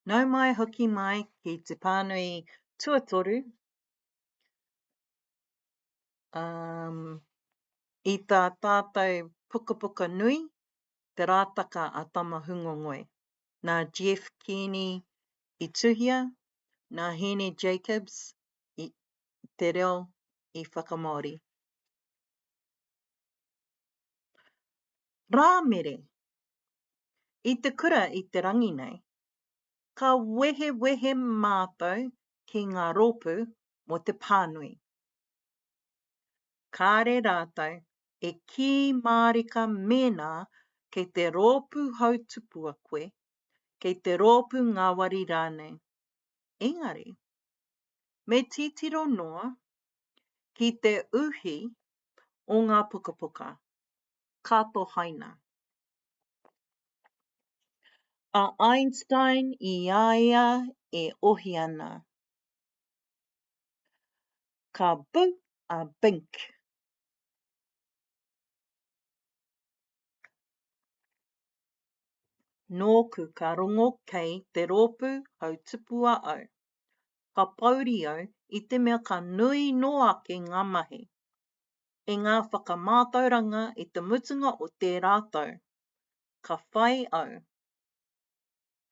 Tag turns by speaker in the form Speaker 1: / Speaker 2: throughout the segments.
Speaker 1: Nau mai hoki mai ki te pānui tuatoru um, i tā tātou pukapuka nui, Te Rātaka a Tamahungongoe. Nā Jeff Kearney i tuhia, nā Hēni Jacobs i te reo i whakamāori. Rāmere, i te kura i te rangi nei. Ka wehewehe mātou ki ngā rōpū mō te pānui. Kāre rātou e kī mārika mēnā kei te rōpū hautupua koe, kei te rōpū ngāwari rānei. Engari, me titiro noa ki te uhi o ngā pukapuka, ka tohaina. A Einstein i a ia e ohi ana. Ka bu a Bink. Nōku ka rongo kei te rōpū hautupua au. Ka pouri au i te mea ka nui nō ake ngā mahi. i ngā whakamātauranga i te mutunga o tērā tau. Ka whai au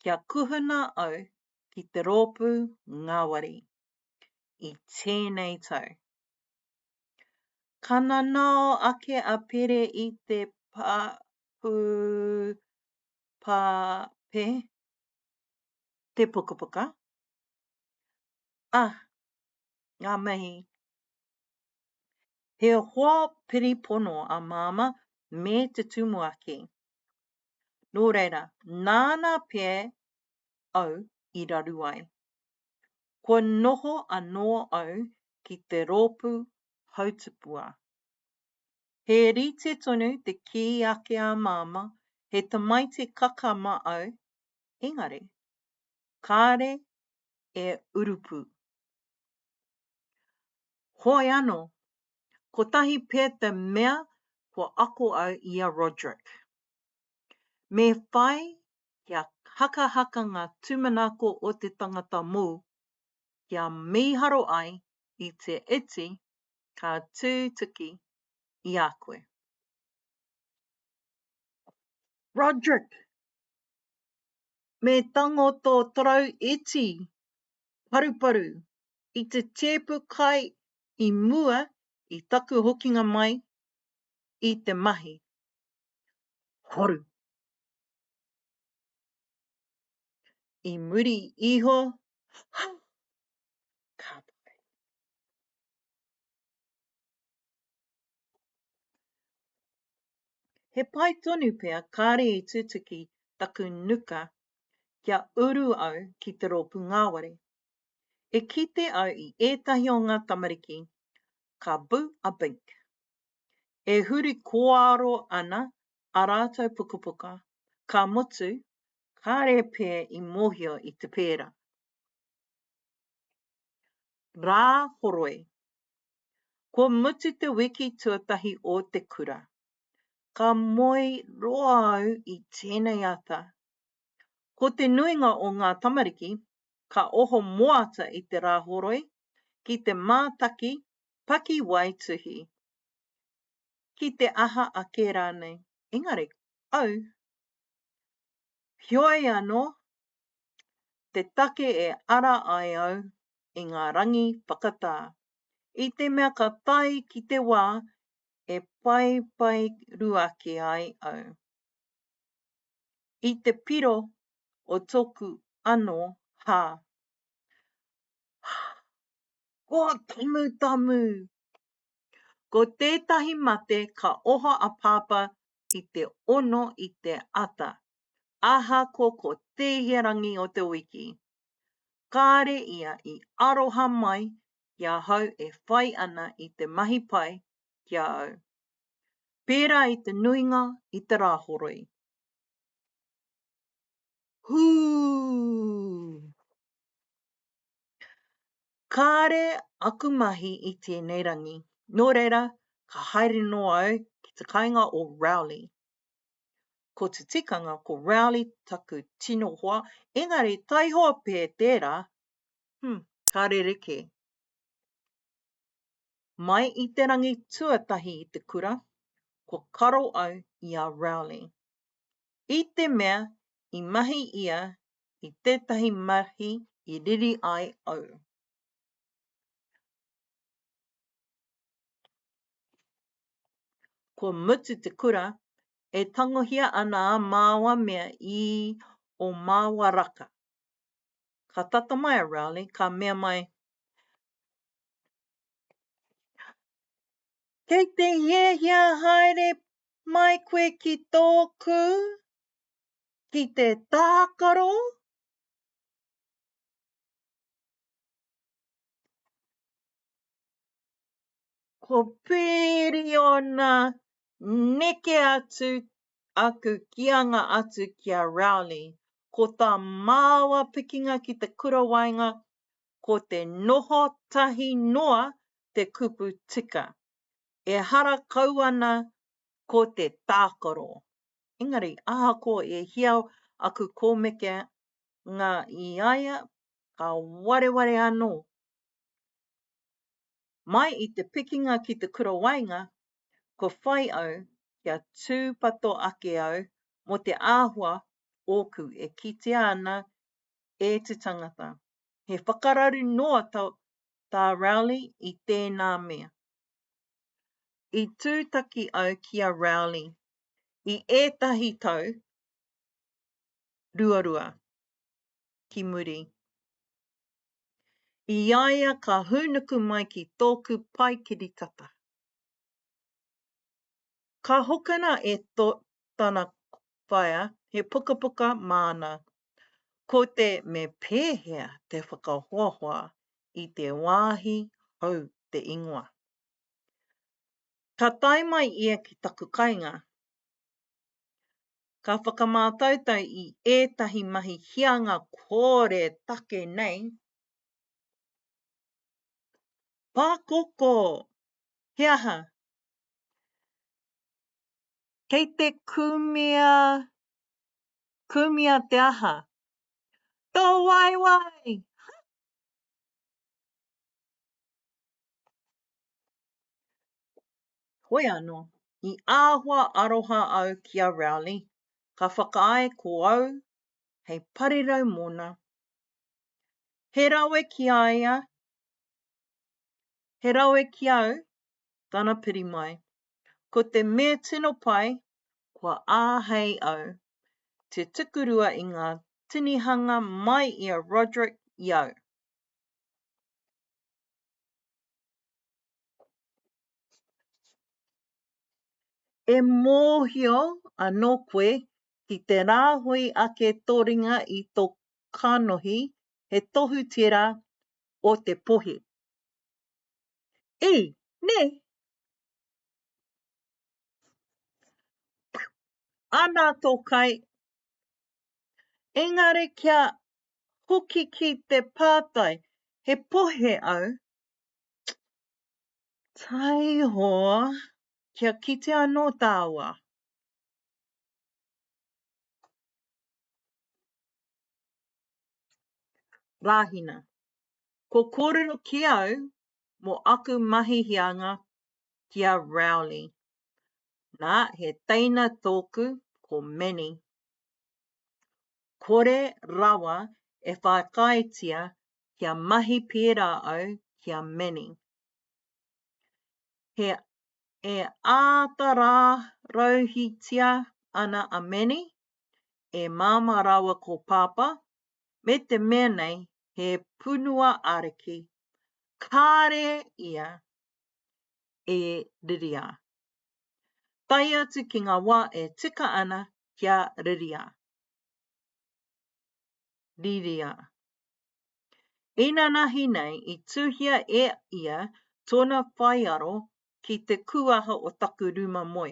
Speaker 1: kia kuhuna au ki te rōpū ngāwari i tēnei tau. Ka nanao ake a Pere i te pāpū pāpē, te pukapuka, ā, ngā mahi He hoa piripono a Māmā me te tumuaki. Nō reira, nāna pea au i raru ai. Kua noho anō au ki te rōpū hautipua. He rite tonu te kī ake a Māmā he tamaiti kakama au, engari, kāre e urupū. Hoi ano, kotahi pe te mea kua ako au i a Roderick. Me whai kia hakahaka nga tumanako o te tangata mou, kia miharo ai i te iti ka tutuki i a koe. Roderick! Me tango to torou iti paruparu i te tēpu kai i mua i taku hokinga mai i te mahi. Horu. I muri iho, ha! Ka pai. He pai tonu pea kāre i tutuki taku nuka kia uru au ki te rōpū ngāwari. E kite au i ētahi o ngā tamariki ka bu a bink. E huri kōaro ana a rātou pukapuka, ka mutu, kāre pē i mōhio i te pērā. Rā horoi. Kua mutu te wiki tuatahi o te kura. Ka moe roa au i tēnei ata. Ko te nuinga o ngā tamariki ka oho moata i te Rāhoroi ki te mātaki pakiwaituhi, ki te aha ake rānei. Engari, au, heoi anō, te take e ara ai au i ngā rangi whakatā, i te mea ka tae ki te wā e paepaeruaki ai au, i te piro o toku ano ha. Hah! Ko Tamutamu! Ko tetahi mate ka oho a Papa i te ono i te ata, aha ko ko tehia rangi o te wiki. Kare ia i aroha mai ki ahau e whai ana i te mahi pai ki a au. Pera i te nuinga i te rahoroi. Hū! Kāre aku mahi i tēnei rangi, nō reira, ka haere nō au ki te kainga o Rowley. Ko te tikanga, ko Rowley taku tino hoa, engari taihoa pē tērā, hū, ka rerekē. Mai i te rangi tuatahi i te kura, kua karo au i a Rowley. i te mea i mahi ia i tētahi mahi i riri ai au. Kua mutu te kura, e tangohia ana a māua mea i o māua raka. Ka tata mai a Rowley, ka mea mai, Kei te hiahia haere Mai koe ki tōku, ki te tākaro, ko Pīriona neke atu aku kīanga atu ki a Rowley, ko tā māua pikinga ki te kura waenga, ko te noho tahi noa te kupu tika. Ehara kau ana ko te tākaro. Engari, ahakoa e hia aku kōmeke ngā i a ia, ka wareware anō. Mai i te pikinga ki te kura waenga, kua whai au kia tūpato ake au mō te āhua ōku e kitea ana e te tangata. He whakararu noa tā Rowley i tēnā mea. I tūtaki au ki a Rowley i ētahi tau ruarua ki muri. I a ia ka hūnuku mai ki tōku pae kiritata. Ka hokona e tana whaea, he pukapuka māna. Ko te me pēhea te whakahoahoa i te wāhi hou te ingoa. Ka tae mai ia ki taku kainga, ka whakamātautau i ētahi mahi hianga kore take nei, Pakoko! He aha? Kei te kumea, kumea te aha? Tō waewae! Ha! Hoi anō, i āhua aroha au ki a Rowley, ka whakaae ko au hei parirau mōna. He rawe ki a ia, he rawe ki au tana piri mai. Ko te me tino pai, kua āhei au te tukurua i ngā tinihanga mai i a Roderick i au. E mōhio anō koe ki te rāhui ake tō ringa i tō kanohi, he tohu tērā o te pohi. I, ne? Ana to kai. Engari kia hoki ki te pātai, he pohe au? Taiho, kia kite anō tāua. Rāhina. Ko kōrero ki au mō aku mahi hianga ki a Rowley. Nā, he teina tōku ko Manny. Kore rawa e whākaaetia kia mahi pērā au ki a Manny. He e āta rārauhitia ana a Manny, e Māmā rāua ko Pāpā, me te mea nei he punua ariki, kāre ia e riria. Tae atu ki ngā wā e tika ana kia riria. Riria. Inanahi nei i tuhia e ia tōna whaiaro ki te kūaha o taku rūma moe,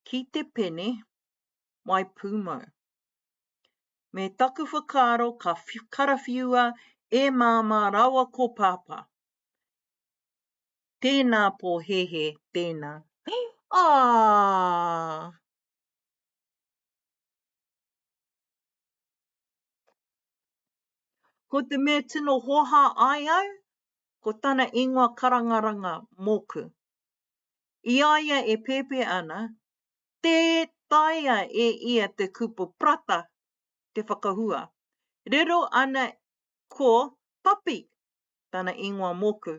Speaker 1: ki te pene mai pūmau. Me taku whakaaro ka karawhiua e Māmā rawa ko Pāpā. Tēnā pōhēhē, tēnā. Aa! Ko te mea tino hoha ai au, ko tana ingoa karangaranga, Moku. I a ia e pēpē ana, Tē taea e ia te kupu prata te whakahua. Riro ana ko Papi tana ingoa mōku.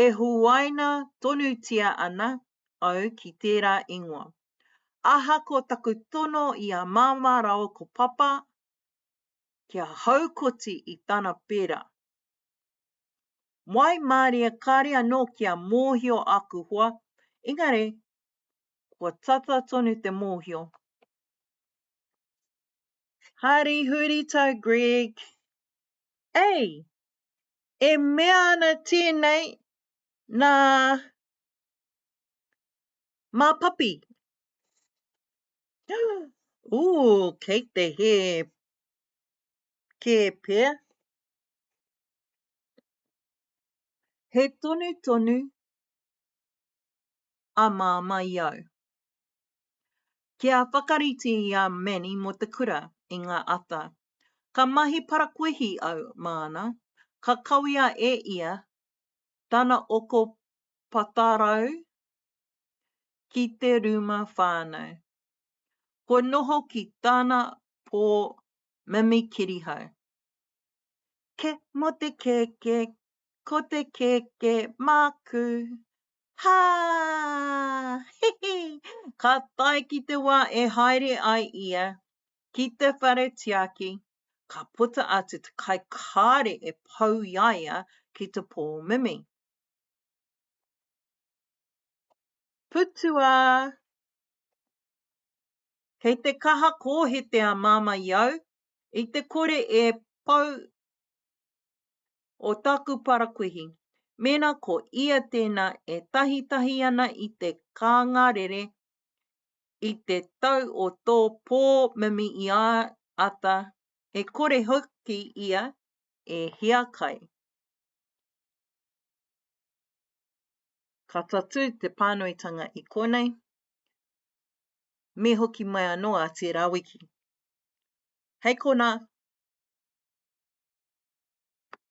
Speaker 1: E huaina tonutia ana au ki tērā ingoa. Aha ko taku tono i a Māmā rāua ko Papa kia haukoti i tana pērā. Waimarie kāre anō kia mōhio aku hoa, engari kua tata tonu te mōhio. Hari Hurita Greg, Ei, e mea ana tēnei nā mā papi. Ū, kei te hē kē pea. He tonu tonu a Māmā i au. Kia whakarite i a Manny mō te kura i ngā ata. Ka mahi parakuihi au māna, ka kawea e ia tana oko patarau ki te rūma whānau. Kua noho ki tana pō mimi kirihau. Kē mō te kēkē, ko te keke māku. Hā! He he! Ka tae ki te wā e haere ai ia ki te whare tiaki, ka puta atu te kai kāre e pau i a ia ki te pō mimi. Putua! Kei te kaha kōhete a Māmā i au, i te kore e pau o tāku parakuihi, mēnā ko ia tēnā e tahitahi ana i te kānga rere i te tau o tō pō mimi i a ata, e kore hoki ia e hiakai. Ka tatū te pānuitanga i konei, me hoki mai anō a tērā wiki. Hei kona.